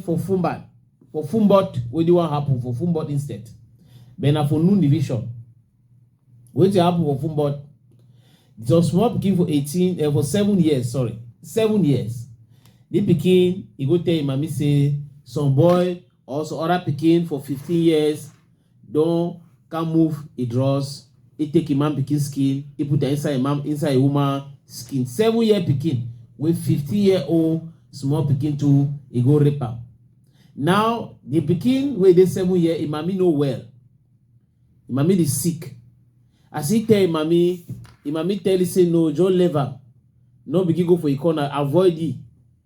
for Fumbat, for Fumbot, what do you want happen for Fumbot instead? But now for noon division, what do happen for Fumbot? Just small pikin for 18, uh, eh, for seven years, sorry, seven years. The pikin, he go tell him, mommy say, some boy, also other pikin for 15 years, Don come move e dross, e take e man pikin skin, e put am inside e man inside e woman skin. Seven year pikin wey fifteen year old small pikin too, e go rape am. Now the pikin wey dey seven year, e mami no well, e mami dey sick. As e tell e mami, e mami tell e say no, just leave am, no begin go for e corner, avoid e.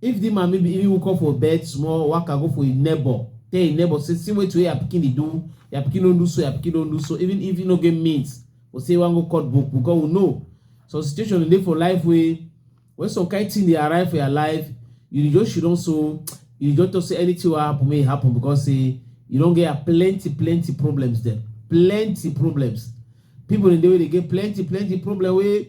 If di man maybe even woke up for bed small, waka go for im neighbor, tell im neighbor say see wetin wey your pikin dey do, your pikin don do so, your pikin don do so, even if im no get means for say e wan go cut book because we know some situation dey for life wey when some kind thing dey arrive for your life, you dey just shudon so, you dey just talk say anything wey happen make e happen because say you don get your plenty plenty problems dem, plenty problems. People dem dey wey dey get plenty plenty problem wey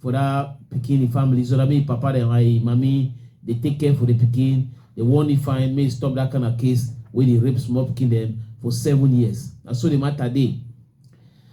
for that pikin the family so that mean papa dem and him mami dey take care for the pikin dey warn him fine make stop that kind of case wey dey rape small pikin dem for seven years na so the matter dey